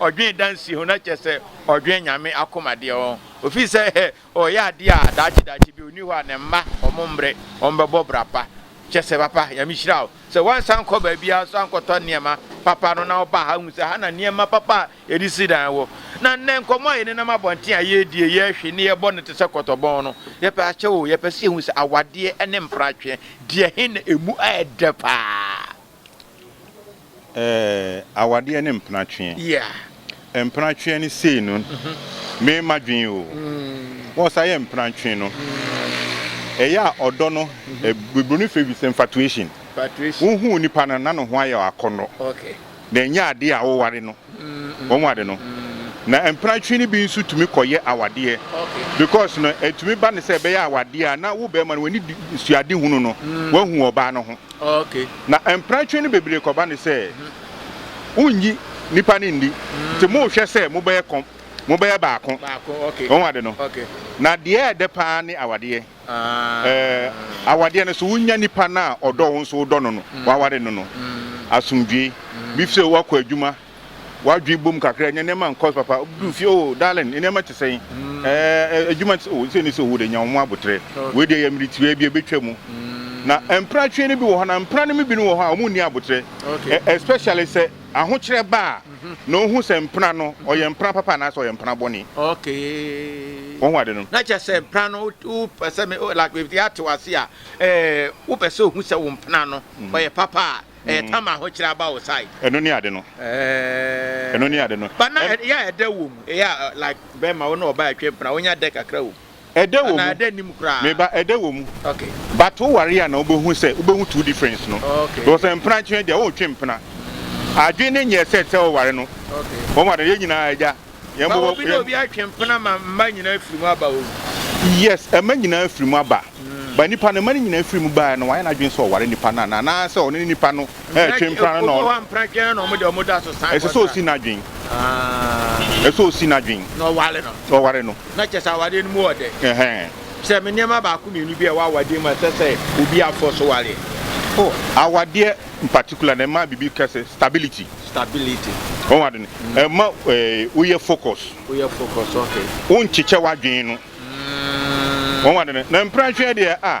Ɔdwen dansi ho, na kyerɛ sɛ ɔdwen Nyame akoma deɛ ɔn. Ofiri sɛ ɔyɛ adeɛ a daakye daakye bi ɔni hɔ a ne mma ɔmo mmrɛ ɔmo bɛbɔ bra pa. Kyerɛ sɛ papa Nyame hyira wo sɛ woansan nkɔ baabiara nso ankɔtɔ nneɛma papa no na wobaa ha hu sɛ ha na nneɛma papa a yɛde si dan wɔ. Na nnɛ nkɔmmɔ a yɛnenam abɔnten a yɛredie, yɛrehwe ne yɛbɔ no te sɛ kɔtɔbɔn no. Yɛpɛ akyɛ oo, yɛpɛ sɛ yɛhu sɛ awadeɛ ne mpratweɛ deɛ he na ɛmu ayɛ dɛ paa? Ɛɛ awadeɛ ne mpenatweɛ. Yeah. Mpenatweɛ ne sei no me ma dwen o. Mm. Wɔn sa yɛ mpenatweɛ no. Mm. Ɛyɛ a ɔdɔ no mm-hmm. eh, Bibroni fɛ bi sɛ infatuation. Infatuation. Wohu nipa no na ne ho ayɛ akɔnɔ. Okay. Na ɛnyɛ adeɛ a woware no. wɔn mu ade no. Na mpenatwe no bi nso tumi kɔyɛ awadeɛ because no ɛtumi ba no sɛ ɛbɛyɛ awadeɛ a na wo bɛrima no w'ani suade hunu no wahu wɔ ɔbaa no ho. Na mpenatwe no bebree kɔba no sɛ wonnyi nipa no nni nti mohwɛ sɛ mobɛyɛ kɔm mobɛyɛ baako wɔn ade no. Na deɛ ɛdɛ paa ne awadeɛ. Ɛɛ, awadeɛ no so, wonya nipa no a ɔdɔ wo nso wodɔ no no, waware no no, asomdwoe bi fi sɛ woakɔ adwuma, w'adwene bom kakra, nya nneɛma nkɔ so papa, woduru fie, oh, darling, nneɛma te sɛn? Ɛɛ, adwuma te sɛ, oh, sei ne sei, oh, wode nya wo ho aboterɛ. Wei deɛ yɛ mmere tiaa bi, ɛbɛtwa mu. Na mpratwe no bi wɔ hɔ, anaa mpra no mu binom wɔ hɔ a, wɔnni aboterɛ, especially sɛ. Ahokyerɛ ba a, na ohu sɛ mpena no, ɔyɛ mpena papa anaasɛ ɔyɛ mpena bɔne. Okay. Wahu ade no? Na kyerɛ sɛ mpena no, wopɛ sɛ me, like baabi te ate wase a, ɛɛ, wopɛ sɛ ohu sɛ wo mpena no, ɔyɛ papa a, ɛyɛ tam a ahokyerɛ aba wo side. Ɛno ne ade no. Ɛɛ. Ɛno ne ade no. But na ɛyɛ a ɛdɛ wɔ mu, ɛyɛ a like bɛrima wo ne ɔbaa ɛtwe mpena, wonya dɛ kakra wɔ mu. Ɛdɛ wɔ mu. Me ba ɛdɛ wɔ mu. But wo ware a na wobɛhu sɛ wobɛhu two difference no. Because mpena ntwene deɛ wontwe mpena. Adwene no nyɛ set sɛ woware no. Wahu adeɛ no yɛn nyinaa agya. But obi ne obi atwe mpena ma mma nyinaa afiri mu aba o. Yes mma nyinaa afiri mu aba. But nipa no mma no nyinaa firi mu baeɛ no wayɛ n'adwene sɛ ɔware nipa no anaa? Anaa sɛ ɔne nipa no ɛretwe mpena no na ɔno. Obi wɔ hɔ a mpena twene no na wɔn deɛ wɔn dɔ aso san. Ɛsɛ sɛ ɔsi n'adwene. Ɛsɛ sɛ ɔsi n'adwene. Na ɔware no. Ɔware no. Na kyerɛ sɛ awadeɛ no mu wɔ dɛ. Kyerɛ me nneɛma baako mmienu bi a ɛwɔ awadeɛ mu a ɛsɛ sɛ obi afoɔ so ware. Oh, awadeɛ in particular no ɛma biribi ka sɛ stability. Stability. Wɔn ade no. Mm. Ɛma eh, woyɛ focus. Woyɛ focus, okay. Wonkyekyɛ w'adwene no. Mm. Wɔn ade no. Na mprɛnhwɛ deɛ a.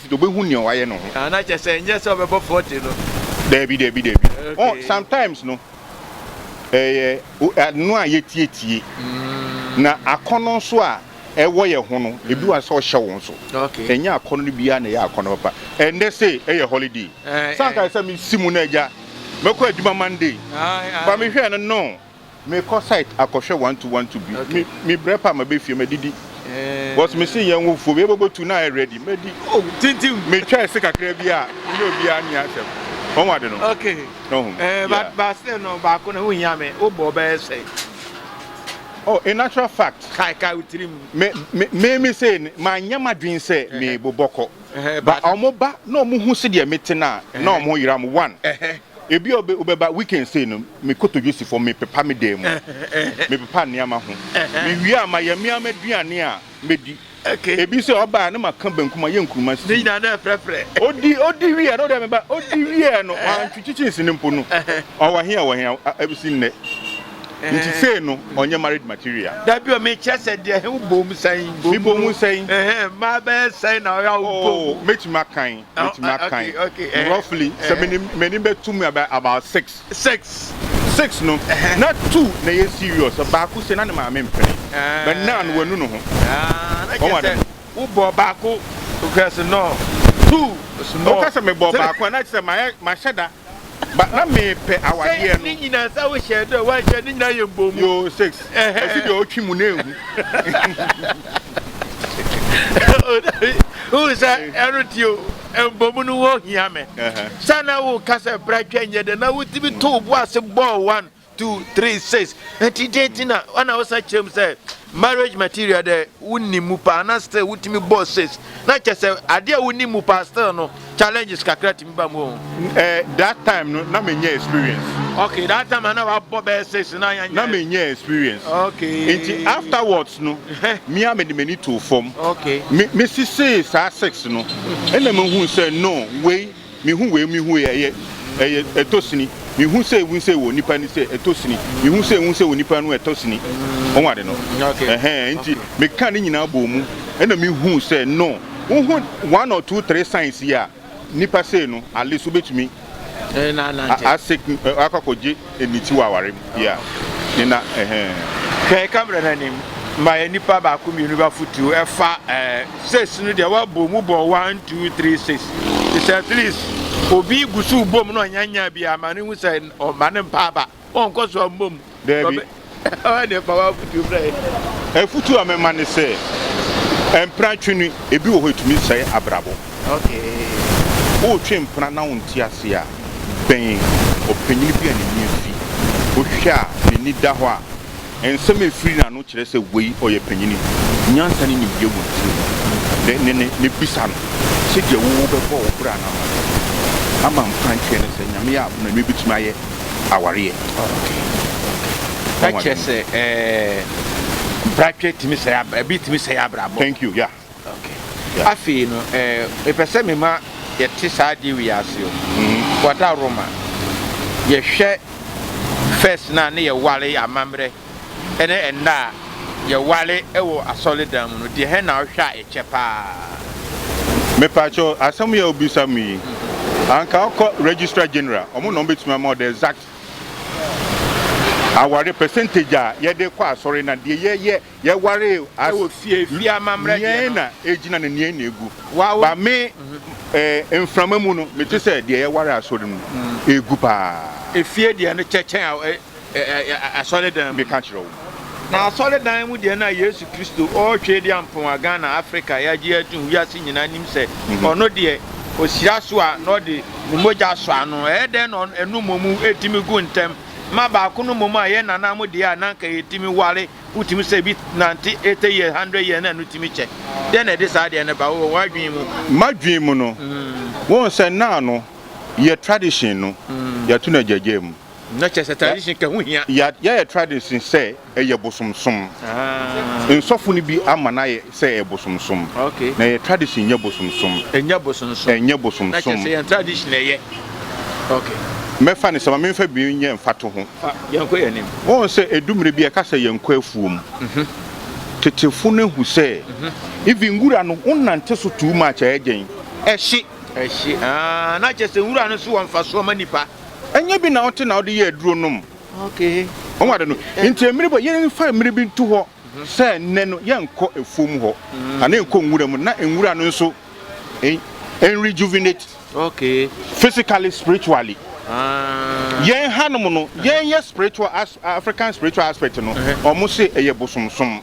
Obehu nea wayɛ no ho. Ah na kyɛ sɛ ɛnyɛ sɛ ɔbɛbɔ forty no. Dabi dabi dabi oh sometimes no ɛyɛ ɛno a yɛtie tie na akɔnɔ nso a ɛwɔ yɛ ho no ebi wa sɛ ɔhyɛ wo nso ɛnyɛ akɔnɔ no biara na ɛyɛ akɔnɔ papa ɛndɛ se ɛyɛ holiday sanka sɛ me si mu na agya mɛkɔ adwuma Monday ba me hwɛ no no. Me kɔ site akɔhwɛ one two one two bi me me brɛ pa ma bɛ fie ma didi bɔs me se yɛn wo fuo yɛ bɔbɔ tu na ayɛ ready ma di oh tintim me twɛ se kakra bi a me ne obi a ni asɛm wɔn wade no okay no ho eh ba ba se no ba ko na ho hia me wo bɔ bɛ sɛ oh a natural fact kai kai utrim me me me me se ma nyɛ ma dwen sɛ me bobɔ kɔ ba ɔmo ba na ɔmo hu se deɛ me te na na ɔmo yira mo one Ebia obi wobɛba weekend sei no me kotodwe si fam me pepa me dan mu me pepa nneɛma ho me wie a ma yɛ me ama aduane a me di ebi nso a ɔbaa ne ma ka banku ma yɛ nkuruma si ne nyinaa na ɛfrɛfrɛ odi odi wie no deɛ me ba odi wie no wɔn twi kyikyi si ne mpo no ɔwɔ he a ɔwɔ he a ebi si nnɛ nti sei no ɔnyɛ married material dabi ɔme kyɛ sɛ deɛ he wobom sɛn me bom sɛn maa bɛyɛ sɛn na ɔyɛ a wobom oh, mɛtumi akan mɛtumi aka yi roughly sɛ m'anim bɛtu mu about six six six no na two na yɛ serious sɛ baako sɛ na ne maame mpene but now no wanu no ho ɔma dɛm wobɔ baako wokasɛ no two small wokasɛ mebɔ baako a na kyerɛ mahyɛ da But na me pɛ awadeɛ no. Sɛ ne nyina nsa wo hyɛ dɛ wa hyɛ ne nyina yɛ mbɔ mu. Yo six. Ɛsi deɛ ɔtwi mu ne ehu. Wohu sɛ ɛno ti o mbɔ mu no ho hia me. Sɛ na wo ka sɛ bra twa nyɛ dɛ na wotumi to wo bo ase bɔɔ one Two, three, six. Nti dɛn ti na ana wosan kyerɛ mu sɛ marriage material dɛ wonni mu paa na still wotumi bɔ six na kyɛ sɛ adeɛ a wonni mu paa still no challenges kakra tumi ba mu o. Eh, that time no na menyɛ experience. Okay, that time ana wabɔ bɛyɛ six na yɛnyɛ. Na menyɛ experience. Okay. Nti afterwards no me a mede m'ani too fam. Okay. Me mesisee saa six no ɛna mehu sɛ no wei. Me hu wei me hu wei ɛyɛ ɛyɛ ɛtɔ sini me hu sɛ ewu sɛ wɔ nipa ni sɛ ɛtɔ sini me hu sɛ ewu sɛ wɔ nipa no ɛtɔ sini wɔn ade no ɛhɛn nti me ka ne nyinaa bɔ mu ɛna me hu sɛ no wo ho one or two three signs yi a nipa sɛ no ale so betumi asik akɔkɔgye. Nniti wɔ aware mu. Yeah. Ne na, ɛhɛɛ. Hwɛ camera no anim ma yɛ nipa baako mmienu ba futu ɛfa ɛɛ six no deɛ wabɔ mu bɔ one two three six te sɛ at least obi gu so bom na ɔnyanya bi ama ne ho sɛ ɔma ne mpa aba ɔnkɔ so amom. Daabi Ɔyɛ deɛ fa w'afutuo brɛ yɛn. Afutuo a mɛma ne sɛ, mpena twe no, ebi wɔ hɔ a ɛtumi sɛe abrabɔ. Woretwe mpena na wonte aseɛ a, bɛn ɔpanin bi a n'ani afi. Wohwɛ a, n'ani da hɔ a, nsɛm a ɛfiri n'ano kyerɛ sɛ wei ɔyɛ panin. Nyansa ne nimdeɛ wɔ ne tiri mu. Dɛ ne no na bisa no sɛdeɛ wowɔ bɛbɔ wo bra no ama no. Ama mpena ntweɛ ne sɛ, Nyame yɛ abono a, ɛno ɛbɛtumi ayɛ. awareɛ. Ɛkyerɛ sɛ ɛɛ bratwɛ tumi sɛe abra ebi tumi sɛe abrabɔ. Thank you yeah. Okay. Yeah. Afei no ɛɛ mepɛ sɛ mema yɛte saa adeɛ wei ase o. Mm-hmm. Wada Roma yɛhwɛ first na ne yɛware amammerɛ ne nna a yɛware wɔ asɔredan mu no, deɛhɛn na wohwɛ a ɛkyɛ paa? Mepakyɛw, asɛm yi a wobisa me yi, anka wokɔ Registrar General, wɔn na wɔbɛtumi ama wo the exact aware percentage a yɛde kɔ asɔre na deɛ yɛyɛ yɛware as Ɛwɔ fie, fie amammerɛ deɛ nea no. na egyina na nea na egu. Wa- wo- Ba me eh, mframa mu no, mete sɛ deɛ yɛware asɔre mu egu paa. Efie deɛ no kyɛ kyɛn a- ɛ- asɔredan mu. Meka kyerɛ wo. Na asɔredan mu deɛ na Yesu Kristo ɔretwe de ampowa Ghana, Africa yɛagye atum wiase nyinaa nim sɛ ɔno deɛ ɔhyira so a na ɔde ne mogya sɔ ano. Ɛyɛ dɛn na ɛno mmom ɛtumi gu ntɛm ma baako no mmom a yɛn nana mo deɛ a na anka yɛtumi ware wotumi sɛ bi nante 80 years, 100 years na ɛno tumi kyɛ. Dɛn na ɛde saa deɛ no ba wɔ w'adwene mu? M'adwene mu no, wohu sɛ nna no yɛ tradition no yɛto no agyagyaa mu. Na kyerɛ sɛ tradition ka ho hia. Ya yayɛ tradition sɛ ɛyɛ bosomsom. Ahaa. Nsɔfo no bi ama no ayɛ sɛ ɛyɛ bosomsom. Ok. Na yɛ tradition nyɛ bosomsom. Ɛnyɛ bosomsom. Ɛnyɛ bosomsom. Na kyerɛ sɛ yɛn tradition na ɛyɛ. Ok. Mɛfa no sɛ ma memfa bi nyɛ mfatoho. Fa, yɛnkɔ yɛn anim. Wohu sɛ edu mmere bi a ɛka sɛ yɛnkɔ afuom. Tetefo no ahu sɛ even nwura no wonante so too much a ɛyɛ dɛn? Ɛhye. Ɛhye, ahaa. Na kyerɛ sɛ nwura no nso wɔ mfasoɔ ma nnipa. Ɛnyɛ bi na wote na wode yɛ aduro nom. Ɔmo ade no. Nti mmiri bɔ yɛnfa mmiri bi nto hɔ sɛ nnɛ no yɛnkɔ afuom hɔ anaa yɛnkɔ nwura mu na nwura no nso ɛnrejuvenate physically, spiritually. Yɛn hanom no, yɛn yɛ spiritual, African spiritual aspect no, ɔmo se ɛyɛ bosomsom.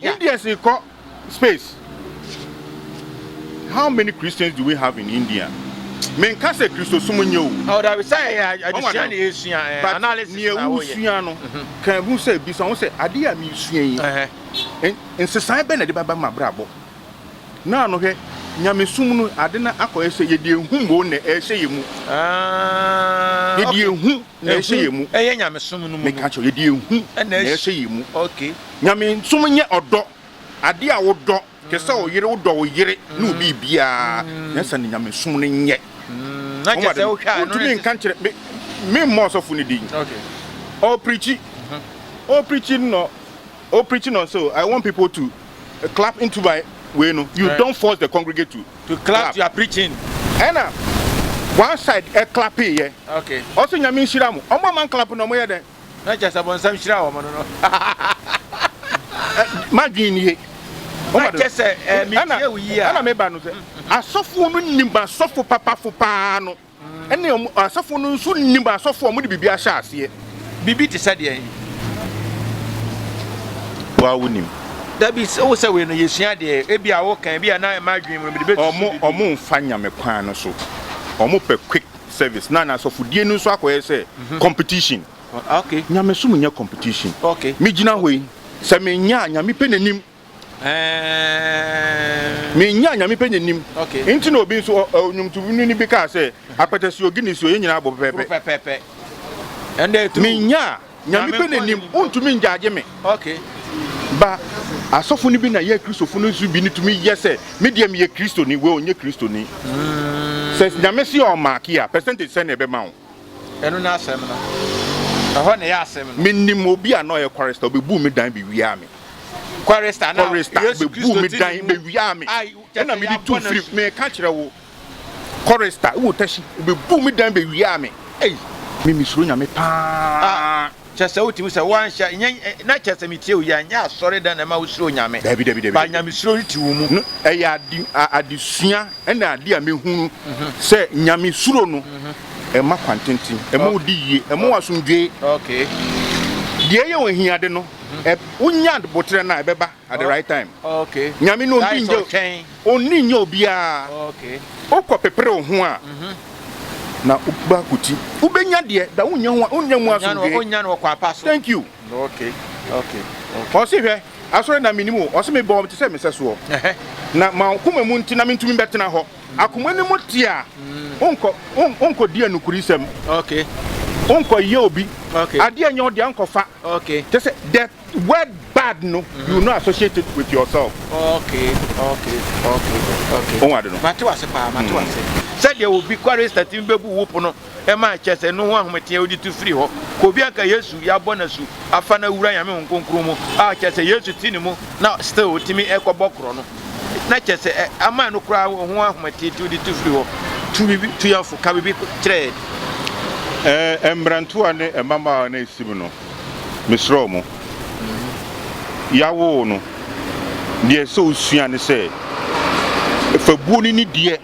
Yeah. Indians rekɔ space. How many Christians do we have in India? Menka sɛ Kristosom nyɛ o. Oh, dabi sɛ ɛyɛ adesua na yɛsua, eh, But analysis na nea woyɛ. wosua no Mhm. ka hu sɛ bisa ho sɛ adeɛ a mesua yi Ɛhɛ. n- nsesae bɛ na ɛde bɛba m'abrabɔ na ano hwɛ nyamesom no ade no akɔyɛ sɛ yɛde ehu mo na ɛhyɛ yɛ mu Ah, yɛde okay. ehu na ɛhyɛ yɛ mu Ɛyɛ nyamesom no mu no. meka kyerɛ wo, yɛde ehu Ɛna na ɛhyɛ- ɛhyɛ yɛ mu Okay. Nyamesom nyɛ ɔdɔ ade a wodɔ te sɛ wo yere wodɔ wo yere ne wo biribiara nyɛ saa na nyamesom no nyɛ wontumi nka nkyerɛ me memmɔ ɔsɔfo no din ɔprikyi ɔprikyi no ɔprikyi no so I want people to clap into my way no you don't force the congregate to, to clap, clap. you are preaching ɛna one side ɛclapeyɛ ɔsɛ nyame nhyira mo ɔmo a man clap no ɔmo yɛ dɛn Na kyɛ sɛ bɔnsam hyiraa wɔn no no. M'adwene nie. Na kyɛ sɛ eh, metie wo yie a. Ɛna meba no sɛ, asɔfoɔ no nim asɔfo papafo paa no, ɛne asɔfoɔ no nso nim asɔfoɔ a wɔde biribi ahyɛ aseɛ. Biribi te sɛ deɛn? Woa wonim. Dabi, wo sɛ wei no yɛsua deɛ, ebi a woka, ebi a na ɛma adwene mu no, mede bɛtusu biribi. Wɔn mfa nyame kwan no so, wɔpɛ quick. service na n'asɔfodie no nso akɔyɛ sɛ competition. Nyamesom nyɛ competition. Megyina hɔ yi, sɛ mennya a, Nyame pɛ n'anim. Mennya a, Nyame pɛ n'anim. Nti na obi nso, ɔnwomtoni bi kaa sɛ, apɛtɛsio, Guinnessio, yɛn nyinaa bɔ pɛpɛɛpɛ. Mennya a. Nyame pɛ na nim, wontumi ngyaagye me. Ba, asɔfo no bi na yɛ Kristofo no nso bi no tumi yɛ sɛ, me deɛ meyɛ Kristoni, wei ɔnyɛ Kristoni. Sɛ Nyame se ɔmaake a, percentage sɛn na ɛbɛma wo? Ɛno ne asɛm no. Ɛhɔ na ɛyɛ asɛm no. Menim obi a na ɔyɛ kwarista, ɔbɛbuu me dan bɛwiaa me. Kwarista, na Yesu Kristo ti ne mu. Kwarista bɛbuu me dan bɛwiaa me. Ɛna mede tu firi, meka kyerɛ wo. Chorister wɔ tashi ɔbɛbuu me dan bɛwiaa me ei me mesuro nyame paa. Kyɛ sɛ wotumi sɛ woanhyɛ nyɛ na kyɛ sɛ metie wo yɛ nyɛ asɔredan na ɛma wosuro nyame Dabi dabi dabi ba dabi nyamesuro no te wo mu. no ɛyɛ ade adesua ɛna ade a mehunu sɛ nyame suro no ɛma kwantenten ɛma Ok wodi yie ɛma wo ok asomdwoe ok deɛ ɛyɛ wo ahiade no ɛ wonya boterɛ no a ɛbɛba at the right time. Okay. Nyame no ndi nje ɔkyɛn. Onni nye obiara. Okay. Okɔ pepere wo ho a. Mhm. Na uba kuti. Ubenya deɛ da unya ho unya mu asomdwe. Unya no kwa pa so. Thank you. Okay. Okay. Ɔse hwɛ asɔre na menim o ɔse me bɔ te sɛ mesɛ soɔ na ma koma mu nti na mentumi bɛtena hɔ akoma no mu te a wonkɔ mm. wonkɔ di anukuri sɛm okay wonkɔ yɛ obi okay adeɛ nyɛ ɔde ankɔfa okay te sɛ death Word bad no mm-hmm. you no associate it with yourself. Okay, okay, okay, okay. Ohun adi no. Mate wa se paa, mate wa se. Sɛdeɛ obi kware sati bɛbu wo pono ɛma akyɛ sɛ no ho ahometeɛ wode tu firi hɔ ka obi anka yesu yɛabɔ no asu afa no awura nyame ho nkonkron mu a kyɛ sɛ yesu ti ne mu na still ɔtumi ɛkɔbɔ korɔ no na kyɛ sɛ ama no koraa ho ahometeɛ ti wode tu firi hɔ tu biribi tu yɛfo ka biribi kyerɛ yɛ mmerantewa ne mmabaawa no ɛsim no Mesrɛ mo, yɛawoo no. Deɛ ɛsɛ sɛ wosua ne sɛ, fa buo no ni deɛ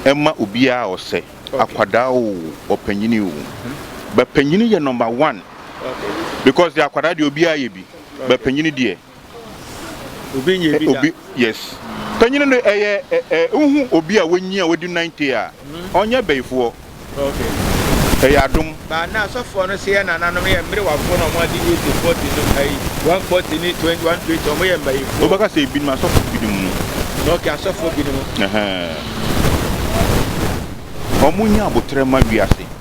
ɛma obiara a ɔsɛ, akwadaa o, ɔpanyini o. Bapanyini yɛ number one because deɛ akwadaa deɛ obiara yɛ bi, bapanyini deɛ. Obi, yes. Panyin no ɛyɛ ɛ nhu obi a wɔnyi a wɔdi 90 a ɔnyɛ bɛyifoɔ. Ɛyɛ adom. Ba na asɔfoɔ no sɛ yɛ nananom yɛ mmerewafoɔ na wɔn adi 80, 40 no ayi 140 ne 20, 120 wɔn yɛ mbayifoɔ. Wobɛka sɛ ebinom asɔfoɔ binom no. Ok asɔfoɔ binom. Ɛhɛɛ. Wɔn nyɛ aboterɛ ma wiase.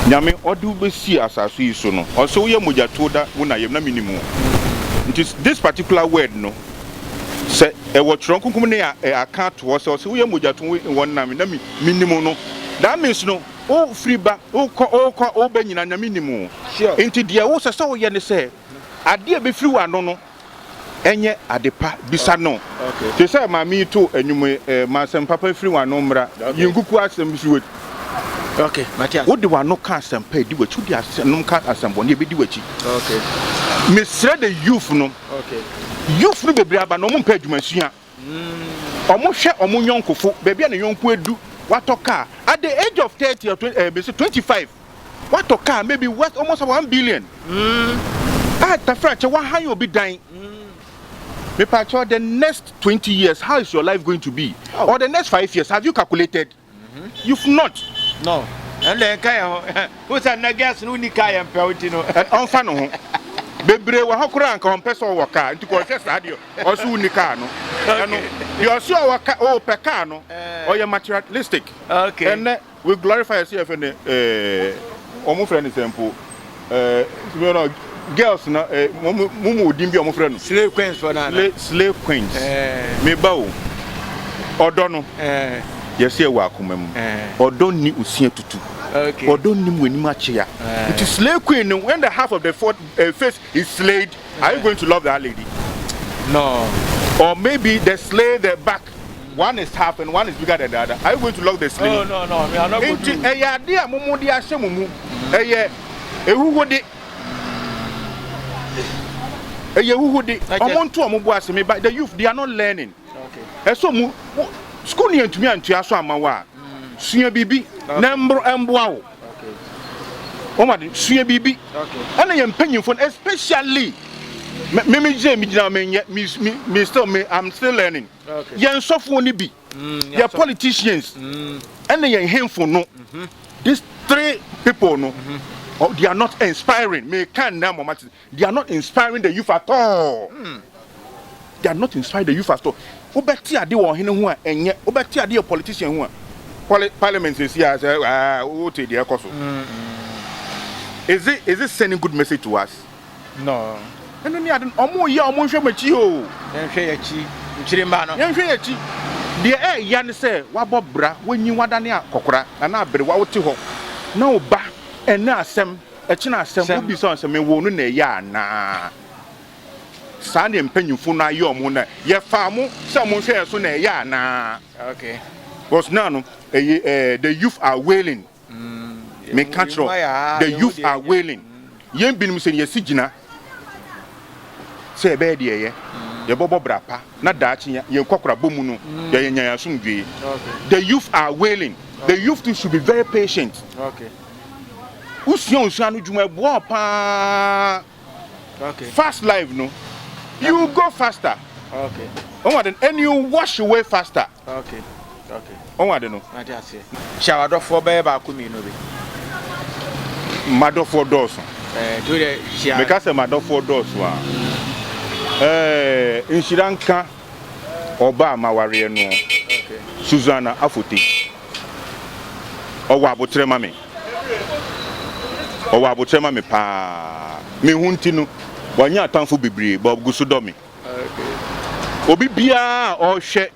Nyame ɔde wo bɛsi asase yi so no ɔsɛ woyɛ mogyatuo da wo na yam na menim wo nti this particular word no sɛ ɛwɔ twerɛ nkonkom ne aka ato hɔ sɛ ɔsɛ woyɛ mogyatuo wɔ nna me na menim no that means no wo firi ba wokɔ wokɔ wobɛ nyina na menim wo nti deɛ wo sɛ sɛ woyɛ ne sɛ adeɛ bɛfiri wɔ ano no ɛnyɛ ade pa bisa no te sɛ maame yi too anwum yi eh, ma asɛm papa firi w'ano mmra yi nkuku asɛm bi si w'akyi Okay, Matias. Wode w'ano ka asɛm pa edi w'akyi, wode asɛm ka asɛm bɔne ebedi w'akyi. Okay. Mesrɛ the youth no. Okay. Youth no bebree aba na wɔn mpɛ adwuma sua. Wɔhwɛ wɔn yɔnkofo, baabi a ne yɔnko adu, watɔ car at the age of thirty or twen ɛɛ mesi twenty five, watɔ car maybe worth almost one billion, a Tafrakyɛ wahan obi dan, mepaakyɛw the next twenty years how is your life going to be or the next five years have you calculated? You've not. No. Ɛnna yɛn ka yɛn ho. Wohu sɛ nnɛ girls no wonni kaa yɛn mpɛw nti no. Ɛn, ɔmfa ne ho. Bebree wɔ ha koraa a anka ɔmpɛ sɛ ɔwɔ kaa, nti kɔhwɛ saa deɛ ɔse wonni kaa no. Ɛno, deɛ ɔse ɔwɔ ka, ɔɔpɛ kaa no, ɔyɛ materialistic. Okay. Ɛnnɛ, we glorify ɛse yɛfrɛ no, eh, wɔfrɛ no sɛn mpo? ɛɛ no girls na ɛɛ mo mo mu odin bi a wɔfrɛ no. slay queens fɔ naa. slay slay queens. ɛɛ mi ba o ɔdɔ no. ɛɛ yɛsi ɛwɔ akoma mu. ɛɛ ɔdɔ ni osia tutu. okay ɔdɔ ni mu anim akyea. ɛɛ nti slay queen no when the half of the fourth uh, face is slayed are you going to love that lady. no. or maybe the slay the back one is half and one is bigger than the other are you going to lock the ceiling. oh no no me i no go do. nti ɛyɛ ade a mo mo de ahyɛ mo mu ɛyɛ ehuhude ɛyɛ ehuhude ɔmo nto ɔmo bo ase me ba the youth they are not learning ɛso mu school ni yɛn tumi antua so ama wa sua biribi na mboro ɛmboa wo. Wɔn ade sua biribi. Ɛna yɛn mpanyinfo no especially me me me gyina me gyina me nyɛ me me me still me I'm still learning. Yɛn nsɔfoɔ no bi, mm, yɛn politicians, mm. ɛna yɛn henfo no. Mm-hmm. These three people no, mm-hmm. oh, they are not inspiring. Me can now, mama. They are not inspiring the youth at all. They are not inspiring the youth at all. Wobɛte ade wɔ ɔhene ho a, ɛnyɛ. Wobɛte ade wɔ politician ho a, poli, parliament sɛsi a, sɛ, ah, wote deɛ ɛkɔ so. Is it, is it sending good message to us? No. Ɛno ne ade no, ɔmo yɛ a ɔmo nhwɛ mo akyi o. Yɛnhwɛ yɛn akyi, nkyiri mma no. Yɛnhwɛ yɛn akyi. Deɛ ɛɛya ne sɛ, wabɔ bra, wanyin, wadane akɔkora, anaa aberewa, wote hɔ, na wo ba, ɛnɛ asɛm, Ɛkyena a, sɛ mobisa wɔn sɛ, Mewoo no na ɛyɛ anaa? Saa na mpanyimfo no ayɛ wɔn ho nnɛ. Yɛfaa mo sɛ monhwɛ yɛn so na ɛyɛ anaa? Because now no, ɛyɛ ɛɛ the youth are wailing. Meka kyerɛ wo, the youth are wailing. Yɛn binom sɛ yɛasi gyina sɛ yɛbɛyɛ deɛ ɛyɛ, yɛbɛbɔ bra pa na daakye yɛn kwakorabɔ mu no yɛanya asomdwoe. The youth are wailing. The youth too should be very patient. Wosua osua no dwuma ɛboa wo paa. Okay. Fast life no. You go faster. Okay. Ɔn ade no and you wash away faster. Okay. Okay. Ɔn ade no. Ade ase. Hyɛ wadɔfoɔ bɛyɛ baako mmienu bi. Madɔfoɔ dɔɔso. Ɛɛ to yɛ hyɛ. Meka sɛ madɔfoɔ dɔɔso a. Ɛɛ nhyira nka. ɔbaa m'awareɛ noɔ, Susanna Afote. Ɔwɔ aboterɛ ma me. Ɔwɔ aboterɛ ma me paa. Me ho nti no, wanya atamfo bebree, but ɔgu so dɔ me. Obi biara a ɔrehwɛ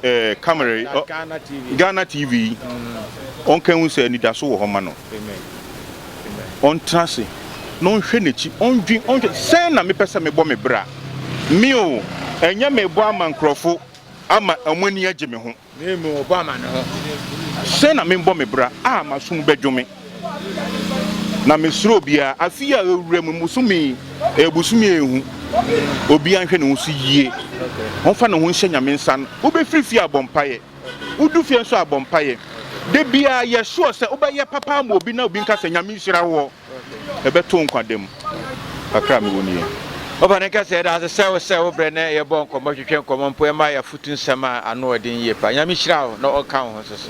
eh, camera, Ghana TV, Ghana TV yi, ɔnka hu sɛ anidaso wɔ hɔ ma no. Ɔntena ase na ɔnhwɛ n'akyi, ɔndwen, ɔnhwɛ, sɛn na mepɛ sɛ mebɔ me bra? Me o, ɛnyɛ merebɔ ama nkurɔfo ama wɔn ani agye me ho, na mmom ɔbɔ ama ne ho. Sɛn na mebɔ me bra a m'asom bɛdwo me, na mesuro obiara? Afe yi a awura mu, bosome yi yɛ bosome a ehu. Obiara nhwɛ ne ho so yie, ɔmfa ne ho nhyɛ Nyame nsa na obefiri fie abɔ mpaeɛ. Wodu fie nso a bɔ mpaeɛ. Da biara yɛ sure sɛ wobɛyɛ papa ama obi na obi nka sɛ Nyame nhyira woɔ. Ɛbɛto wo nkwa da mu. Kakra a mewɔ nie. Ɔba no nka sɛ yɛda ase sɛ wo sɛ wo brɛ na yɛbɔ nkɔmmɔ twetwe nkɔmmɔ mpo ɛma yɛ afotu nsɛm a ano ɔden yie paa. Nyame nhyira wo na ɔnka wo ho nso so.